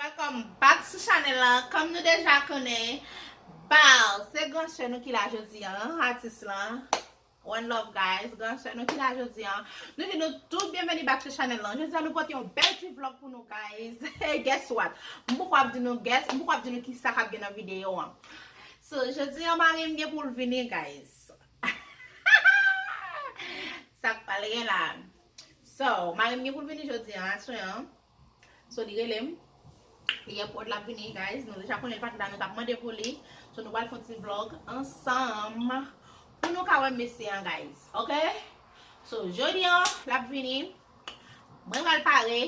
Welcome back sou chanel la Kòm nou deja konnen Bal se gran sè nou ki la jodi an Atis lan One love guys, gran sè nou ki la jodi an Nou di nou tout byenveni back sou chanèl lan Jodi an nou pote yon bèl ti vlog pou nou guys Guess what M poko ap di nou guess, m poko ap di nou kisa kap gen nan videyo an So jodi an mari m gen pou l vini guys Sak pral gen la So mari m gen pou l vini jodi an aswè an So li relem Li an prod lap vini guys Nou deja konnen li pat la nou tap mande pou li So nou pral fon ti vlog ansanm Pou nou ka wè mesye an guys ok So jodi an lap vini Mwen pral pare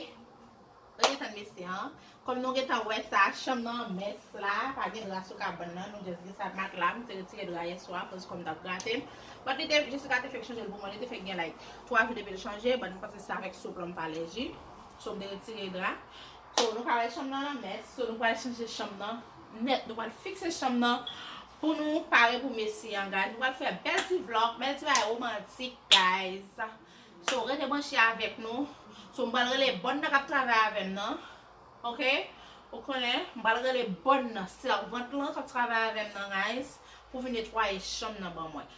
Rete tann mesye an Kom nou gentan wè sa chanm nan mès la Pa gen dra sou kabann nan nou just gen sa matla Mwen te retire dra yeswa koz kom tap grate But li te Jessica te fek chanje l pou mwen li te fek gen like 3 jou depil chanje but mwen panse se avek soup lan mpa alèji. So mte retire dra. So nou ka wè chanm nan lan mès. So nou pral chanje chanm nan nèt. Nou pral fikse chanm nan pou nou pare pou mesi an guys. Nou pral fè bèl ti vlog, bèl ti bagay romantik guys. So rete branche avèk nou. So m pral rele bòn nan kap travay avèm nan. Ok. Ou konnen. M pral rele bòn nan. Sèvant lan kap travay avèm nan guys. Pou vin netwaye chanm nan ban mwen.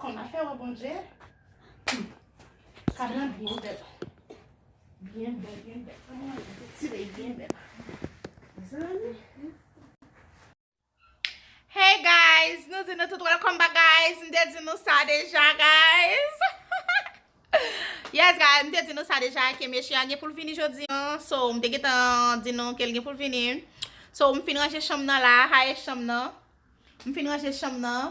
Kòm afè wè Bondye, kab lan byen bèl. Byen bèl, byen bèl. Kòm nan bèl, ti lèy byen bèl. Zanmi. Hey guys, nou di nou tout welcome back guys. M te di nou sa deja guys. Yes guys, m te di nou sa deja ke mesye a gen pou l vini jodi an. So, m te gen tan di nou ke l gen pou l vini. So, m fin ranje chanm nan la, haye chanm nan. M fin ranje chanm nan.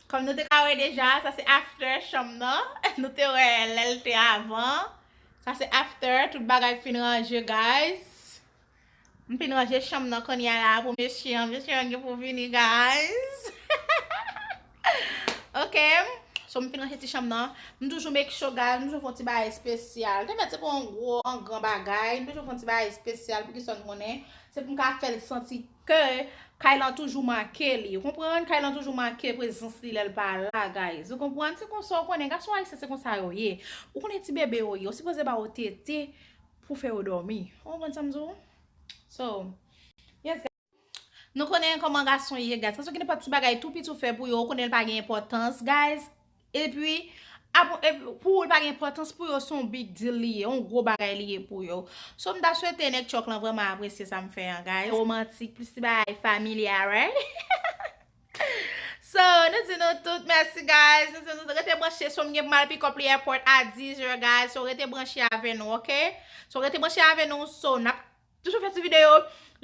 Kòm nou te ka wè deja, sa se after chanm nan. Nou te wè lè l te avan. Sa se after, tout bagay fin ranje guys. M fin ranje chanm nan kounya la pou mesye an. Mesye an gen pou vini guys. Ok, so m fin ranje ti chanm nan. M toujou make sure guys, m toujou fon ti bagay espesyal. Te mèt se pou an gwo, an gran bagay. M toujou fon ti bagay espesyal pou ki sòn konnen. Se pou m ka fè l santi. Ke kay lan toujou make li. Ou konprann? Kay lan toujou make prezans li lè l pa la guys. Ou konprann? Se konsa ou konnen. Gason ayisyen se konsa yo ye. Ou konnen ti bebe yo ye. Ou sipoze ba yo tete pou fè yo dòmi. Ou konprann sa m di w? So, yes guys. Nou konnen kòman gason ye guys. Gason ki nenpòt ti bagay tou piti ou fè pou yo, ou konnen l pa gen enpòtans guys. Epi, pou ou li pa gen enpòtans pou yo, se yon big deal li ye, yon gwo bagay li ye pou yo. So m ta swete nèg tchòk lan vrèman apresye sa m fè an guys. Romantik, plis ti bagay familia right? So, nou di nou tout mèsi guys, nou di nou tout rete branche so m gen pou m al pick up li airport a 10 heures guys, so rete branche avè nou ok. So rete branche avè nou, so n ap. Toujou fè ti video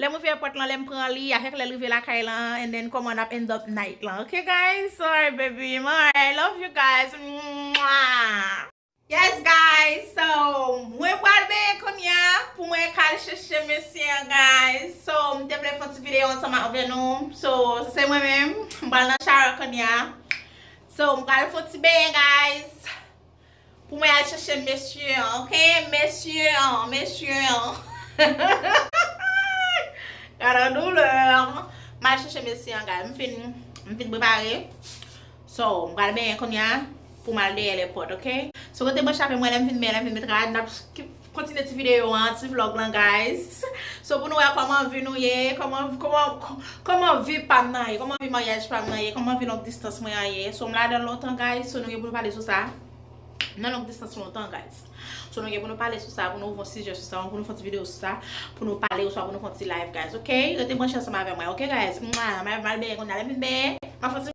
lè mwen fè prank lan lèm pran li avèk lèl rive lakay lan and then kòman nap end up night lan ok guys alright baby m alright I love you guys mwaa. Yes guys so mwen pral benyen kounya pou mwen ka al chèche mesye an guys so m te vle fon ti video ansanm avè nou so se mwen menm m pral nan shower kounya so m pral fon ti benyen guys. Pou mwen al chèche mesye an ok mesye an mesye an Gadon douleur Mal chèche mesye an guy m fin m fin prepare So m pral benyen kounya pou mal dèyè lèpòt ok So rete branche avèm wè lèm fin benyen lèm fin met rad nap Kontinye ti video an, ti vlog lan guys. So pou nou wè kòman vi nou ye, kòman kòman vi pam nan ye, kòman vi maryaj pam nan ye, kòman vi long distans mwen an ye. So m ladan l lontan guys, so nou gen pou nou pale sou sa. M nan long distans lontan guys. So nou gen pou nou pale sou sa, pou nou ouvon sijè sou sa, pou nou fon ti video sou sa, pou nou pale oswa pou nou fon ti live guys ok. Rete branche ansanm avè mwen ok guys. Mwah, m al beye kounya, lè m fin beye, m ap fon ti.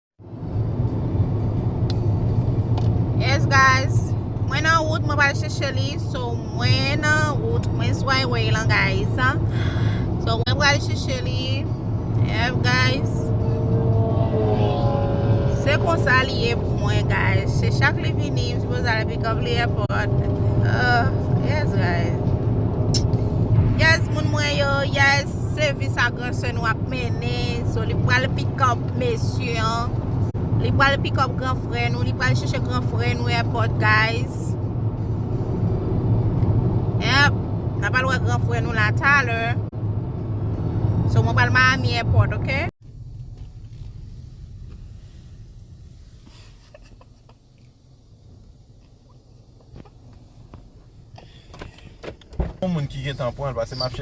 Yes guys, mwen nan wout mwen pal chèche li So mwen nan wout, mwen sou highway lan guys So mwen pal chèche li Yes guys Se konsa li ye pou mwen guys Se chak li vini, mwen sipoze ale pick up li airport uh, Yes guys Yes moun mwen yo, yes, se vis ak Frè sè nou ap mennen so li pral pikòp mesye an li pral pikòp gran frè nou li pral chèche gran frè nou airport guys yep n'a pral wè gran frè nou la talè so mwen pral Miami airport ok Moun ki gen tan pran l pase map chè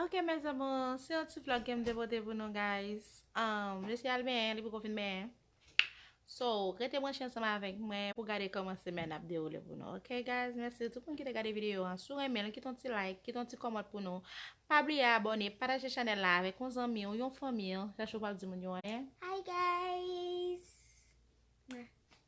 Ok mes amours, se yon ti vlog kem te pote pou nou guys. Mesye al benyen li poko fin benyen. So rete branche ansanm avèk mwen pou gade kòman semèn ap dewoule pou nou ok guys mèsi tout moun ki te gade videyo an si w renmen l kite yon ti like kite yon ti kòmant pou nou pa bliye abòne pataje chanèl la avèk yon zanmi w yon fanmi w chachou pap di moun yo anyen hi guys